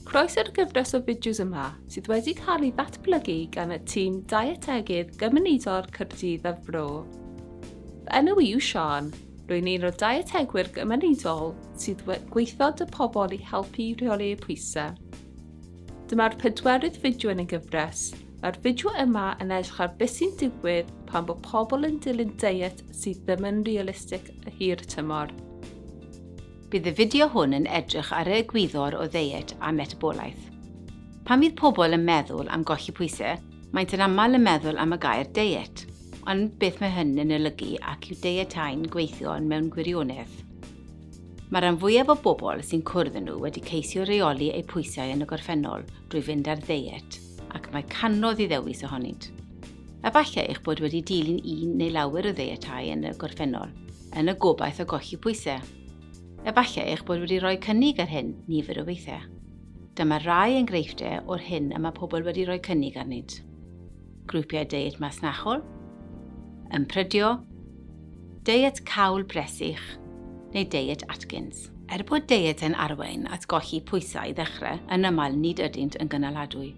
Croeso'r gyfres o fideos yma sydd wedi cael ei ddatblygu gan y tîm Dietegydd Gymunedol Cyrdydd a'r Bro. Fy enw i yw Sian, rwy'n un o Dietegwyr Gymunedol sydd gweithod y pobl i helpu i rheoli pwysau. Dyma'r pedwerydd fideo yn y gyfres. Mae'r fideo yma yn edrych ar beth sy'n digwydd pan bod pobl yn dilyn deiet sydd ddim yn realistig y hir y tymor. Bydd y fideo hwn yn edrych ar y egwyddor o ddeiet a metabolaeth. Pan fydd pobl yn meddwl am golli pwysau, maent yn aml yn meddwl am y gair deiet. Ond beth mae hyn yn olygu ac yw deietau'n gweithio mewn gwirionedd? Mae rhan fwyaf o bobl sy'n cwrdd â nhw wedi ceisio reoli eu pwysau yn y gorffennol drwy fynd ar ddeiet, ac mae canodd i ddewis ohonynt. Efallai eich bod wedi dilyn un neu lawer o ddeietau yn y gorffennol, yn y gobaith o golli pwysau. Efallai eich bod wedi rhoi cynnig ar hyn nifer o weithiau. Dyma rai enghreifftiau o'r hyn y mae pobl wedi rhoi cynnig arnynt. grwpiau deiet masnachol, ymprydio, deiet cawl bresych neu deiet Atkins. Er bod deiet yn arwain at golli pwysau i ddechrau, yn aml nid ydynt yn gynaladwy.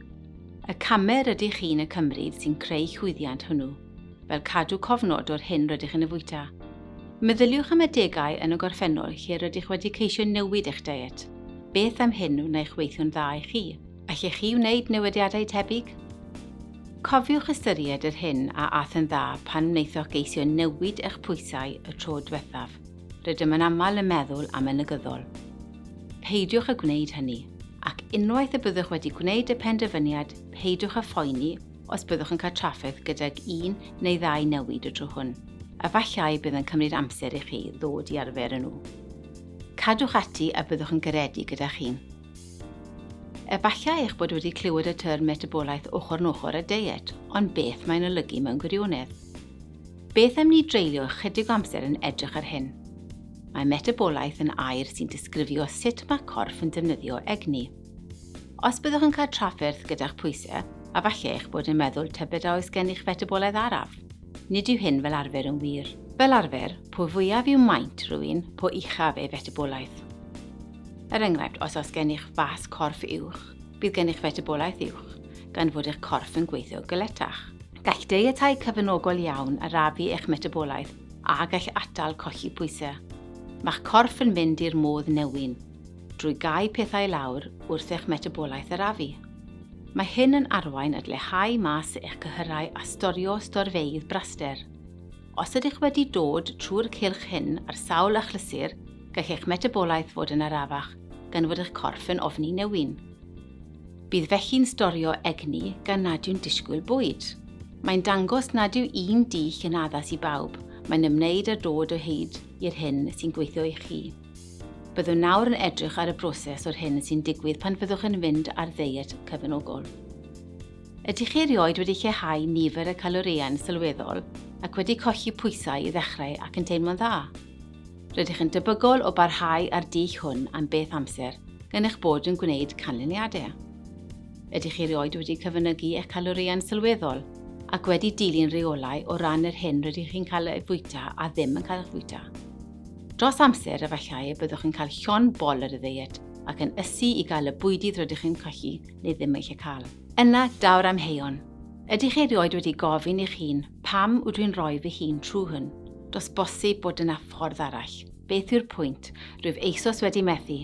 Y camau rydych chi'n y cymryd sy'n creu llwyddiant hwnnw, fel cadw cofnod o'r hyn rydych yn y fwyta. Meddyliwch am adegau yn y gorffennol lle rydych wedi ceisio newid eich deiet. Beth am hyn wnai'ch weithio'n dda i chi? Allech chi wneud newidiadau tebyg? Cofiwch ystyried yr hyn a ath yn dda pan wnaethoch geisio newid eich pwysau y tro diwethaf. Rydym yn aml yn meddwl am y negyddol. Peidiwch â gwneud hynny, ac unwaith y byddwch wedi gwneud y penderfyniad, peidiwch â phoeni os byddwch yn cael trafferth gydag un neu ddau newid y tro hwn. Efallai bydd yn cymryd amser i chi ddod i arfer â nhw. Cadwch ati a byddwch yn garedig gyda chi. Efallai eich bod wedi clywed y term metabolaeth ochr yn ochr â deiet, ond beth mae'n olygu mewn gwirionedd? Beth am ni dreulio ychydig o amser yn edrych ar hyn? Mae metabolaeth yn air sy'n disgrifio sut mae corff yn defnyddio egni. Os byddwch yn cael trafferth gyda'ch pwysau, a falle eich bod yn meddwl tybed a oes gennych fetabolaidd araf. Nid yw hyn fel arfer yn wir. Fel arfer, po fwyaf yw maint rhywun, po uchaf ei fetabolaeth. Er enghraifft, os oes gennych fas corff uwch, bydd gennych fetabolaeth uwch, gan fod eich corff yn gweithio galetach. Gall deietau cyfynogol iawn arafu eich metabolaeth a gall atal colli pwysau. Mae'ch corff yn mynd i'r modd newyn drwy gau pethau i lawr wrth eich metabolaeth arafu. Mae hyn yn arwain at leihau mas eich cyhyrau a storio storfeydd braster. Os ydych wedi dod trwy'r cylch hyn ar sawl achlysur, gall eich metabolaeth fod yn arafach gan fod eich corff yn ofni newyn. Bydd felly'n storio egni gan nad yw'n disgwyl bwyd. Mae'n dangos nad yw un dich yn addas i bawb, mae'n ymwneud â dod o hyd i'r hyn sy'n gweithio i chi. Byddwn nawr yn edrych ar y broses o'r hyn sy'n digwydd pan fyddwch yn mynd ar ddeiet cyfnogol. Ydych chi erioed wedi lleihau nifer y calorïau'n sylweddol ac wedi colli pwysau i ddechrau ac yn teimlo'n dda? Rydych yn debygol o barhau â'r dull hwn am beth amser gan eich bod yn gwneud canlyniadau. Ydych chi erioed wedi cyfynygu eich calorïau'n sylweddol ac wedi dilyn rheolau o ran yr hyn rydych chi'n cael ei fwyta a ddim yn cael eich fwyta? Dros amser, efallai y byddwch yn cael llond bol ar y ddeiet ac yn ysu i gael y bwydydd rydych yn colli neu ddim eisiau cael. Yna, daw'r amheuon. Ydych chi erioed wedi gofyn i'ch hun, pam ydw i'n rhoi fy hun trwy hwn? Does bosib bod yna ffordd arall. Beth yw'r pwynt? Rwyf eisoes wedi methu.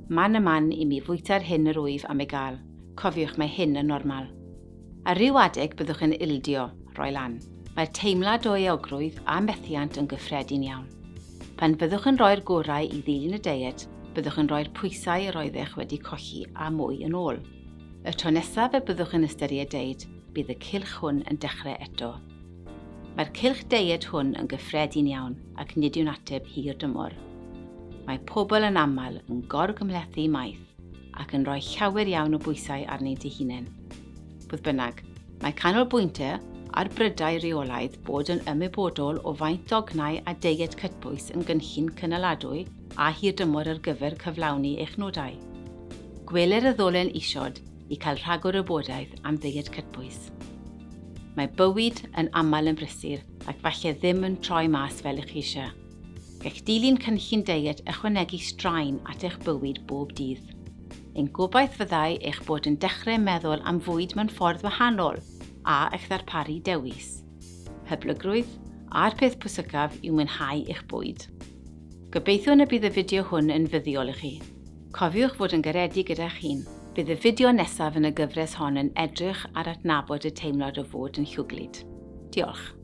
Man a man i mi fwyta'r hyn yr wyf am ei gael. Cofiwch, mae hyn yn normal. Ar ryw adeg byddwch yn ildio, rhoi lan. Mae'r teimlad o euogrwydd a methiant yn gyffredin iawn. Pan fyddwch yn rhoi'r gorau i ddilyn y deiet, byddwch yn rhoi'r pwysau yr oeddech wedi colli a mwy yn ôl. Y tro nesaf y byddwch yn ystyried deiet, bydd y cylch hwn yn dechrau eto. Mae'r cylch deiet hwn yn gyffredin iawn ac nid yw'n ateb hir dymor. Mae pobl yn aml yn gorgymhlethu maith ac yn rhoi llawer iawn o bwysau arnynt eu hunain. Fodd bynnag, mae canolbwyntio ar brydau rheolaidd bod yn ymwybodol o faint dognau a deiet cytbwys yn gynllun cynaladwy a hirdymor ar gyfer cyflawni eich nodau. Gweler y ddolen isod i cael rhagor o wybodaeth am ddeiet cytbwys. Mae bywyd yn aml yn brysur ac falle ddim yn troi mas fel ych chi eisiau. Gall dilyn cynllun deiet ychwanegu straen at eich bywyd bob dydd. Ein gobaith fyddai eich bod yn dechrau meddwl am fwyd mewn ffordd wahanol a eich ddarparu dewis hyblygrwydd a'r peth pwysicaf yw mwynhau eich bwyd. Gobeithiwn y bydd y fideo hwn yn fuddiol i chi. Cofiwch fod yn garedig gyda'ch hun. Bydd y fideo nesaf yn y gyfres hon yn edrych ar adnabod y teimlad o fod yn llwglyd. Diolch.